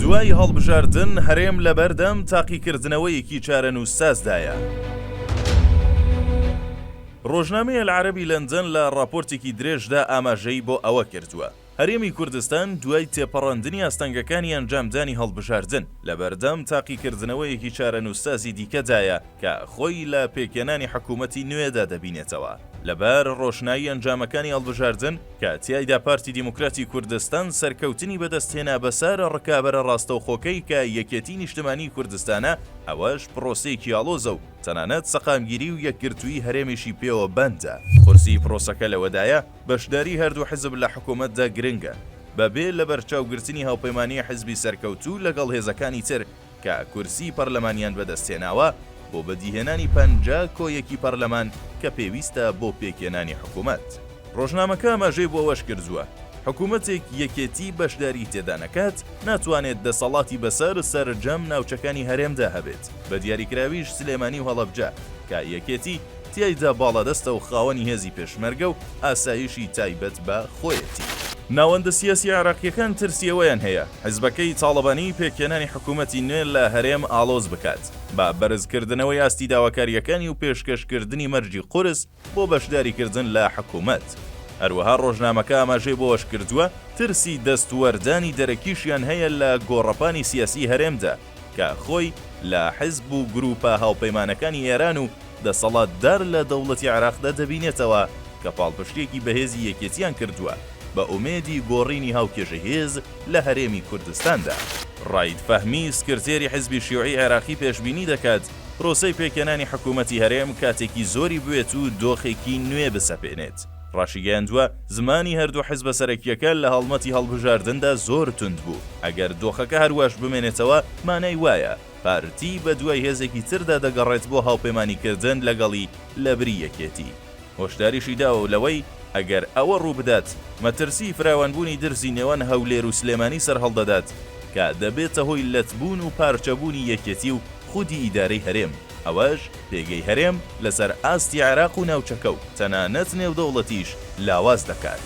دوای هەڵبژاردن هەرێم لەبەردەم تاقیکردنەوەیەکی چارەنووسسازدایە. ڕۆژنامەی ئەلعەرەبی لەندەن لە ڕاپۆرتێکی درێژدا ئاماژەی بۆ ئەوە کردووە، هەرێمی کوردستان دوای تێپەڕاندنی ئاستەنگەکانی ئەنجامدانی هەڵبژاردن، لەبەردەم تاقیکردنەوەیەکی چارەنووسسازی دیکەدایە، کە خۆی لە پێکهێنانی حکوومەتی نوێدا دەبینێتەوە، لەبەر ڕۆشنایی ئەنجامەکانی هەڵبژاردن کە تیایدا پارتی دیموکراتی کوردستان سەرکەوتنی بەدەست هێنا بەسەر ڕکابەرە ڕاستەوخۆکەی کە یەکێتی نیشتمانیی کوردستانە، ئەوەش پرۆسەیەکی ئاڵۆزە و تەنانەت سەقامگیری و یەکگرتوویی هەرێمیشی پێوە بەندە. قورسی پرۆسەکە لەوەدایە بەشداریی هەردوو حزب لە حکوومەتدا گرنگە، بەبێ لەبەرچاوگرتنی هاوپەیمانیی حزبی سەرکەوتوو لەگەڵ هێزەکانی تر کە کورسی پەرلەمانیان بەدەستهێناوە بۆ بەدیهێنانی پەنجا کۆ یەکی پەرلەمان کە پێویستە بۆ پێکهێنانی حکومەت. ڕۆژنامەکە ئاماژەی بۆ ئەوەش کردووە، حکومەتێک یەکێتی بەشداری تێدا نەکات، ناتوانێت دەسەڵاتی بەسەر سەرجەم ناوچەکانی هەرێمدا هەبێت، بەدیاریکراویش سلێمانی و هەڵەبجە کە یەکێتی تیایدا باڵادەستە و خاوەنی هێزی پێشمەرگە و ئاسایشی تایبەت بە خۆیەتی. ناوەندە سیاسی عێراقییەکان ترسی ئەوەیان هەیە، حزبەکەی تاڵەبانی پێکهێنانی حکوومەتی نوێ لە هەرێم ئاڵۆز بکات، با بەرزکردنەوەی ئاستی داواکارییەکانی و پێشکەشکردنی مەرجی قورس بۆ بەشداریکردن لە حکوومەت. هەروەها ڕۆژنامەکە ئاماژەی بەوەشکردووە، ترسی دەستوەردانی دەرەکیشیان هەیە لە گۆڕەپانی سیاسیی هەرێمدا، کە خۆی لە حزب و گروپە هاوپەیمانەکانی ئێران و دەسەڵاتدار لە دەوڵەتی عێراقدا دەبینێتەوە کە پاڵپشتییەکی بەهێزی یەکێتییان کردووە بە ئومێدی گۆڕینی هاوکێشەی هێز لە هەرێمی کوردستاندا. رائید فەهمی، سکرتێری حزبی شیوعی عێراقی پێشبینی دەکات پرۆسەی پێکهێنانی حکومەتی هەرێم کاتێکی زۆری بوێت و دۆخێکی نوێ بسەپێنێت، ڕاشیگەیاندووە، زمانی هەردوو حزبە سەرەکییەکە لە هەڵمەتی هەڵبژاردندا زۆر توند بوو، ئەگەر دۆخەکە هەرواش بمێنێتەوە مانای وایە پارتی بەدوای هێزێکی تردا دەگەڕێت بۆ هاوپەیمانیکردن لەگەڵی لەبری یەکێتی. هۆشداریشی داوە لەوەی ئەگەر ئەوە ڕووبدات، مەترسیی فراوانبوونی درزی نێوان هەولێر و سلێمانی سەرهەڵدەدات، کە دەبێتە هۆی لەتبوون و پارچەبوونی یەکێتی و خودی ئیدارەی هەرێم. ئەوەش پێگەی هەرێم لەسەر ئاستی عێراق و ناوچەکە و تەنانەت نێودەوڵەتیش لاواز دەکات.